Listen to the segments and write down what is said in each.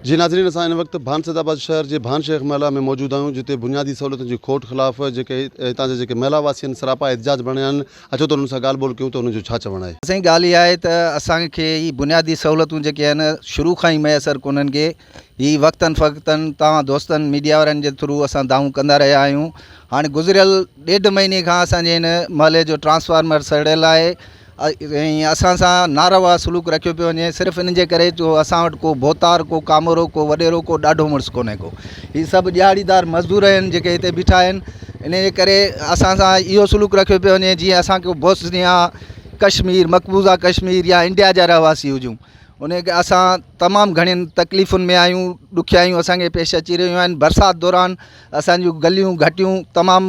جي ناظرين اسان هن وقت ڀانسد آباد شهر جي ڀان شيخ محلا ۾ موجود آهيون جتي بنيادي سهولتن جي کوٽ خلاف جيڪي هتان جا جيڪي محلا واسين سراپا احتجاج ڀرڻ آيا آهن اچو ته انهن سان ڳالهه ٻولهه ڪيون ته انهن جو ڇا چوڻ آهي. سائين ڳالهه اها آهي ته اسان کي هي بنيادي سهولتون جيڪي آهن شروع کان ئي ميسر ڪونهن ڪي هي وقتن فقتن توهان دوستن ميڊيا وارن جي ٿرو اسان دانهون ڪندا رهيا آهيون هاڻي گذريل ڏيڍ مهيني کان اسان جي هن محلي جو ٽرانسفارمر سڙيل آهي ۽ اسان سان ناروا سلوڪ رکيو پيو وڃي صرف ان جي ڪري جو اسان وٽ ڪو ڀوتار ڪو ڪامورو ڪو وڏيرو ڪو ڏاڍو مڙس ڪونهي ڪو هي سڀ ڏهاڙيدار مزدور آهن جيڪي هتي بيٺا آهن ان جي ڪري اسان سان اهو سلوڪ رکيو پيو وڃي جيئن اسان ڪو بوسنيا ڪشمير مقبوضا ڪشمير يا انڊيا جا رهواسي هجون ان کي اسان تمام گهڻين تڪليفن ۾ آهيون ڏکيائيون اسان کي پيش اچي رهيون آهن برسات دوران اسان جون گليون گهٽيون تمام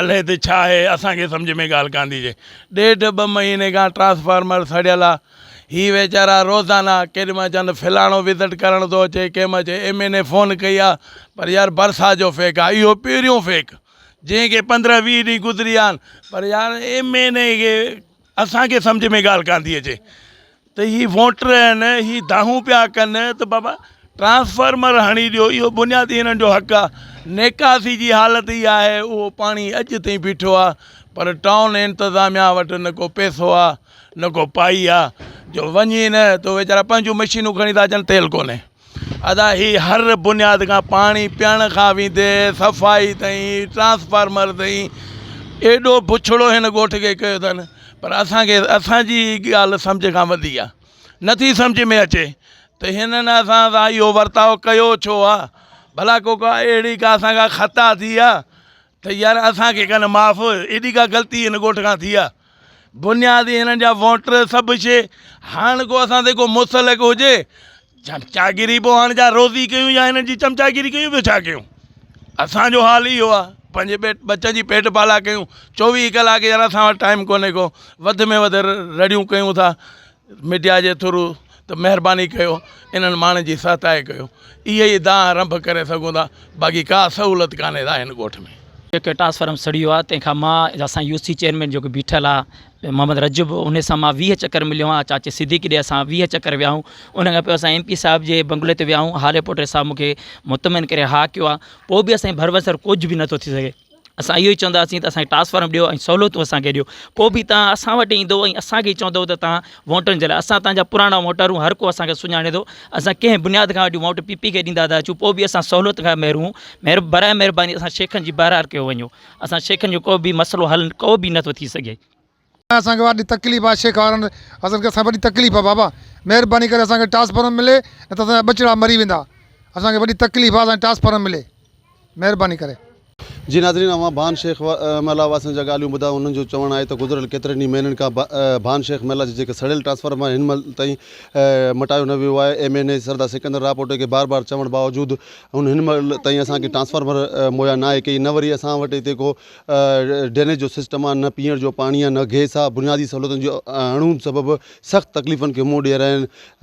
الهي ته ڇا آهي اسان کي سمجهه ۾ ڳالهه ڪانڌي جي ڏيڍ ٻه مهيني کان ٽرانسفارمر سڙيل آ هي ويچارا روزانه ڪيڏي مهل چون ته فلاڻو وزٽ ڪرڻ ٿو اچي ڪنهن مهل چئي ايم اين اي فون ڪئي آ پر يار برسات جو فيڪ آ اهو پهريون فيڪ جنهن کي پندرهن ويهه ڏينهن گذري ويا آهن پر يار ايم اين اي کي اسان کي سمجهه ۾ ڳالهه ڪانڌي اچي ته هي ووٽر آهن هي دانهون پيا ڪن ته بابا ٽرانسفارمر هڻي ڏيو اهو بنيادي هنن جو حق آهي نيڪاسي جي حالت هي آهي اهو پاڻي اڄ تائين بيٺو آهي پر ٽائون انتظاميا وٽ نه ڪو پيسو آهي نه ڪو پائي آهي جو وڃي نه ته ويچارا پنهنجون مشينون کڻي ٿا اچن تيل ڪونهي ادا هي هر بنياد کان پاڻي پيئڻ کان ويندي صفائي تائين ٽرانسفارمر تائين ايڏو بڇڙو هن ڳوٺ کي ڪيو اٿن پر اسان کي اسان جي ڳالهه سمجهه کان وڌي آ نٿي سمجهه ۾ اچي ته هنن اسان سان اهو ورتاء ڪيو ڇو آ ڀلا ڪو ڪا اهڙي ڪا اسان کان خطا ٿي آ ته يار اسان کي ڪن معاف ايڏي ڪا غلطي هن ڳوٺ کان ٿي آ بنياد ئي هنن جا ووٽر سڀ شي هاڻ ڪو اسان تي ڪو مسلڪ هجي چمچاگيري پو هاڻ جا روزي ڪيون يا هنن جي چمچاگيري ڪيون ٻيو ڇا ڪيون اسان جو حال اهو آ پنهنجي پيٽ ٻچن جي پيٽ پالا ڪيون چوويهه ڪلاڪ يار اسان وٽ ٽائيم ڪونهي ڪو وڌ ۾ وڌ رڙيون ڪيون ٿا ميڊيا جي ٿرو ته مهرباني ڪيو انهن ماڻهن جي سهتائي ڪيو اهي ئي دانهن رنڀ ڪري سگهون ٿا باقي ڪا سهولت ڪانهي ٿا هن ڳوٺ ۾. جيڪي ٽرانسفارم سڙيو آ تنهن کان مان اسان يو سي چيئرمين جيڪو بيٺل آ محمد رجب انهي سان مان ويهه چڪر مليو آهيان چاچي صديقي ڏي اسان ويهه چڪر ويا آهيون ان کان پوء اسان ايم پي صاحب جي بنگلي تي ويا آهيون هاري پوٽي صاحب مون کي مطمئن ڪري ها ڪيو آ پوء به اسان جي ڀروسي ڪجهه به نٿو ٿي سگهي اسان اهو ئي چونداسين ته اسانکي ٽرانسفارم ڏيو ۽ سهولتون اسانکي ڏيو پوء به تان اسان وٽ ايندو ۽ اسانکي ئي چوندو ته تان ووٽن جي لاء اسان تانجا پراڻا ووٽر آهيون هر ڪو اسانکي سڃاڻي ٿو اسان ڪنهن بنياد کان وٺي ووٽ پي پي کي ڏيندا ٿا اچون پوء به اسان سهولت کان محروم آهيون براء مهرباني اسان شيخن جي بهرار ڪيو وڃو اسان شيخن جو ڪو به مسئلو حل ڪو به نٿو ٿي سگهي اسان کي وڏي تڪليف آ شيخ وارن اسان کي وڏي تڪليف آ بابا مھرباني ڪري اسان کي ٽرانسفارم ملي نه ته اسان جا ٻچڙا مري ويندا اسان کي وڏي تڪليف آ اسان کي ٽرانسفارم ملي مھرباني ڪري. جي ناظرين اوھان ڀان شيخ محله واسين جا ڳالهيون ٻڌايو انهن جو چوڻ آهي ته گذريل ڪيترن ئي مهينن کان ڀان شيخ محله جي جيڪي سڙيل ٽرانسفارم آهن هن مھل تائين مٽايو نه ويو آهي M N A Sardar Sikandar Rahupoto کي بار بار چوڻ باوجود هن مھل تائين اسان کي ٽرانسفارمر مھيا نه آهي ڪئي نه وري اسان وٽ هتي ڪو ڊرينيج جو سسٽم آهي، نه پيئڻ جو پاڻي آهي، نه گئس آهي، بنيادي سهولتن جي اڻهوند سبب سخت تڪليفن کي منهن ڏئي رهيا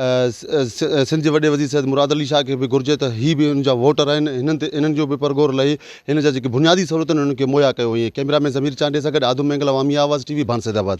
آهن، سنڌ جي وڏي وزير سيد مراد علي شاهه کي به گهرجي ته هي به انهن جا ووٽر آهن، هنن تي انهن جو به پرغور لهي هن جا جيڪي بنيادي سهولتون آهن انهن کي مهيا ڪيو وڃي، ڪئميرا مين ضمير چانڊيي سان گڏ آدم مينگل عوامي آواز ٽي وي ڀانسيدآباد.